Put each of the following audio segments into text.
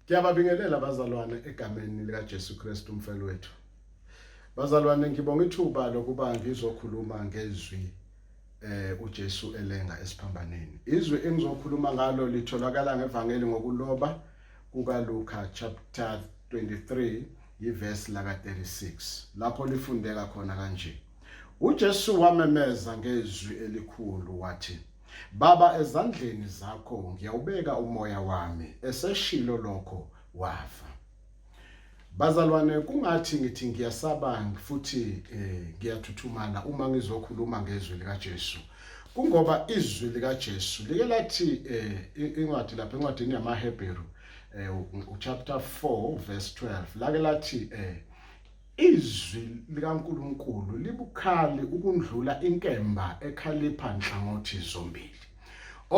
Ngiyababingelela bazalwane egameni lika Jesu Kristu umfelo wethu. Bazalwane ngibonga ithuba lokuba ngizokhuluma ngezwi eh uJesu elenga esiphambaneni. Izwi engizokhuluma ngalo litholakala ngevangeli ngokuloba kuka Luka chapter 23 yiverse laka 36 lapho lifundeka khona kanje. UJesu wamemeza ngezwi elikhulu wathi Baba ezandleni zakho ngiyawubeka umoya wami eseshilo lokho wafa Bazalwane kungathi ngithi ngiyasaba futhi eh, ngiyathuthumala uma ngizokhuluma ngezwi likaJesu kungoba izwi likaJesu like lathi eh, incwadi lapha encwadini yamaHebheru eh, chapter 4 verse 12 lake lathi eh, Izwi likaNkulunkulu libukhali ukundlula inkemba ekhalipha nhlangothi zombili.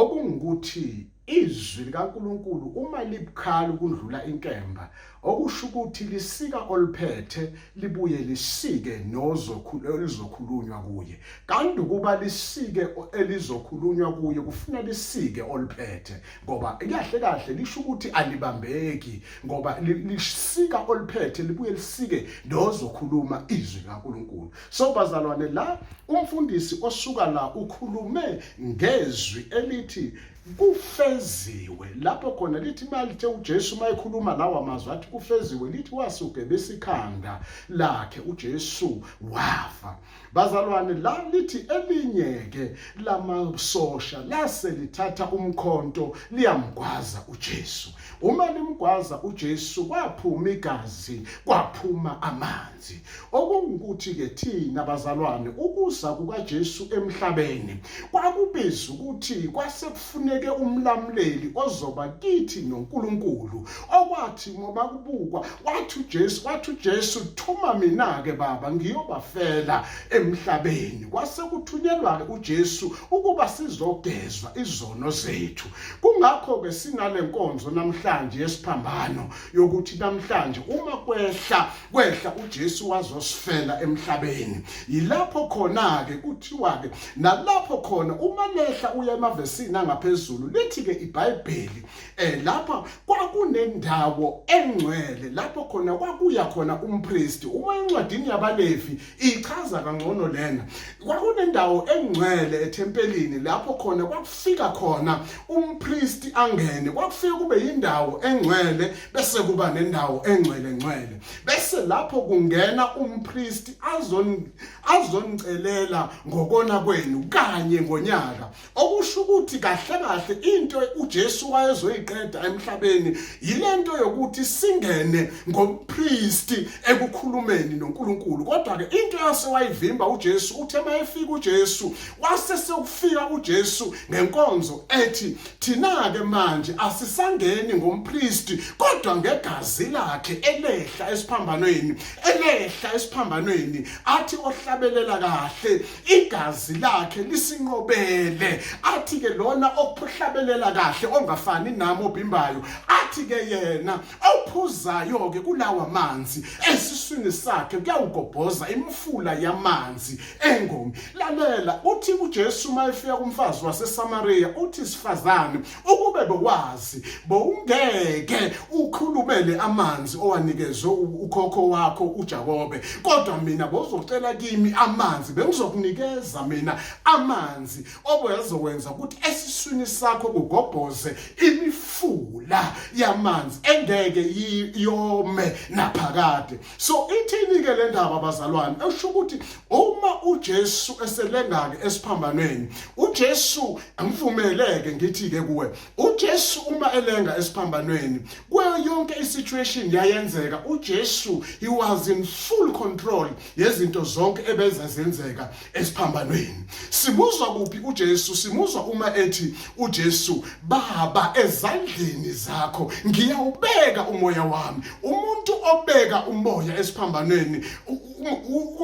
Okungukuthi izwi likaNkulunkulu uma libukhali ukundlula inkemba okusho ukuthi lisika oluphethe libuye lisike nozokhukhulunywa kuye kanti ukuba lisike elizokhulunywa kuye kufuna lisike oluphethe ngoba kahle kahle lisho ukuthi alibambeki ngoba lisika oliphethe libuye lisike nozokhuluma izwi laNkulunkulu so bazalwane la umfundisi osuka la ukhulume ngezwi elithi kufeziwe lapho khona lithi malithe uJesu mayekhuluma lawa mazwi athi kufeziwe lithi wasuke besikhanda lakhe uJesu wafa bazalwane la lithi elinye-ke lamasosha lase lithatha umkhonto liyamgwaza ujesu uma limgwaza ujesu kwaphuma igazi kwaphuma amanzi okungukuthi-ke thina bazalwane ukuza kukajesu emhlabeni kwakubiza ukuthi kwase kufuneke umlamuleli ozoba kithi noNkulunkulu okwathi ngoba kubukwa wathi uJesu wathi uJesu thuma mina ke baba ngiyobafela emhlabeni kwase kuthunyelwa ke uJesu ukuba sizogezwa izono zethu kungakho ke sinale nkonzo namhlanje yesiphambano yokuthi namhlanje uma kwehla kwehla uJesu wazosifela emhlabeni yilapho khona ke kuthiwa ke nalapho khona uma lehla uya emavesini angaphezulu lithi ke iBhayibheli eh lapha kwakunendawo engcwele lapho khona kwakuya khona umpriest uma encwadini yabaLevi ichaza kangcono lena kwakunendawo engcwele ethempelini lapho khona kwakufika khona umpristi angene kwakufika kube yindawo engcwele bese kuba nendawo engcwele ngcwele bese lapho kungena umpristi azon azonicelela ngokona kwenu kanye ngonyaka okusho ukuthi kahle kahle into uJesu wayezoyiqeda emhlabeni yilento yokuthi singene ngompristi ekukhulumeni noNkulunkulu kodwa ke into yase wayivimba uJesu uthe mayefika uJesu wase sekufika uJesu ngenkonzo ethi thina ke manje asisangeni ngompristi kodwa ngegazi lakhe elehla esiphambanweni elehla esiphambanweni athi ohlabelela kahle igazi lakhe lisinqobele athi ke lona okuhlabelela kahle ongafani nami obimbayo athi ke yena ophuzayo ke kulawa manzi esiswini sakhe kuyawugobhoza imfula yamanzi engomi lalela uthi uJesu mayefika kumfazi waseSamaria uthi sifazane ukube bowazi bowungeke ukhulumele amanzi owanikezwe ukhokho wakho uJakobe kodwa mina bozocela kimi amanzi bengizokunikeza mina amanzi obezokwenza ukuthi esiswini sakho kugobhoze imifula yamanzi engeke iyome naphakade so ithini-ke le ndaba bazalwane esho ukuthi uma ujesu eselengake esiphambanweni ujesu ngivumeleke ngithi-ke kuwe ujesu uma elenga esiphambanweni kuyo yonke isituation yayenzeka ujesu he was in full control yezinto zonke ebezazenzeka esiphambanweni simuzwa kuphi uJesu simuzwa uma ethi uJesu baba ezandleni zakho ngiyawubeka umoya wami umuntu obeka umoya esiphambanweni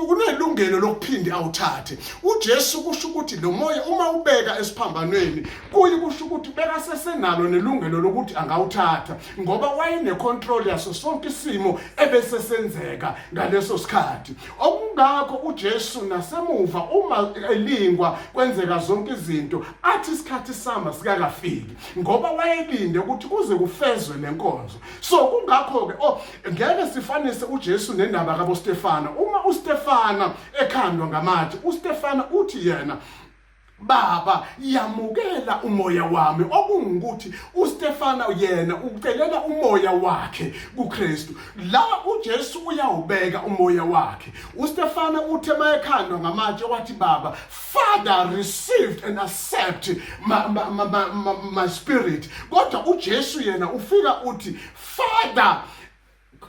kunelungelo lokuphinde awuthathe uJesu kusho ukuthi lo moya uma ubeka esiphambanweni kuyi kusho ukuthi beka sesenalo nelungelo lokuthi angawuthatha ngoba wayenecontrol yaso sonke isimo ebesesenzeka ngaleso sikhathi Okungakho uJesu nasemuva uma elingwa kwenzeka zonke izinto athi isikhathi sama sikakafiki ngoba wayelinde ukuthi kuze kufezwe lenkonzo. So kungakho ke oh ngeke sifanise uJesu nendaba kaBostefana. Uma uStefana ekhandwa ngamatshe, uStefana uthi yena Baba, yamukela umoya wami okungukuthi uStefana yena ucelela umoya wakhe kuKristu. La uJesu uyawubeka umoya wakhe. UStefana uthe mayekhandwa ngamatshe wathi baba, Father received and accept my, my, my, my, my spirit. Kodwa uJesu yena ufika uthi Father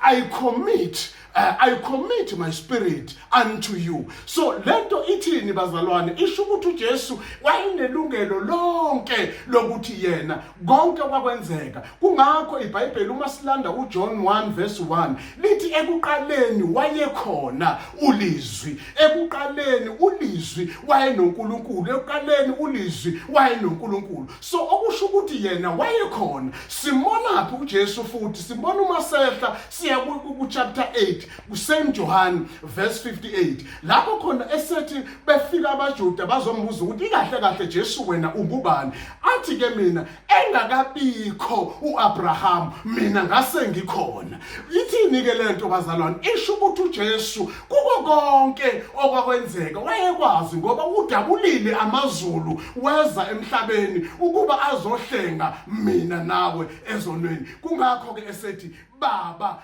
I commit uh, I commit my spirit unto you so lento ithini bazalwane isho ukuthi uJesu wayenelungelo lonke lokuthi yena konke kwakwenzeka kungakho iBhayibheli uma silanda uJohn 1 verse 1 lithi ekuqaleni wayekhona ulizwi ekuqaleni ulizwi wayenoNkulunkulu ekuqaleni ulizwi wayenoNkulunkulu so okusho ukuthi yena wayekhona simonaphi uJesu futhi sibona uma sehla siya ku chapter 8 kuSaint John verse 58 lapho khona esethi befika abaJuda bazombuza ukuthi ikahle kahle Jesu wena ungubani athi ke mina engakabikho uAbraham mina ngase ngikhona Ithini-ke le nto bazalwane? Isho ukuthi uJesu kuko konke okwakwenzeka wayekwazi ngoba udabulile amazulu weza emhlabeni ukuba azohlenga mina nawe ezonweni. Kungakho-ke esethi Baba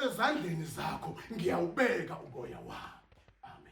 ezandleni zakho ngiyawubeka umoya wami.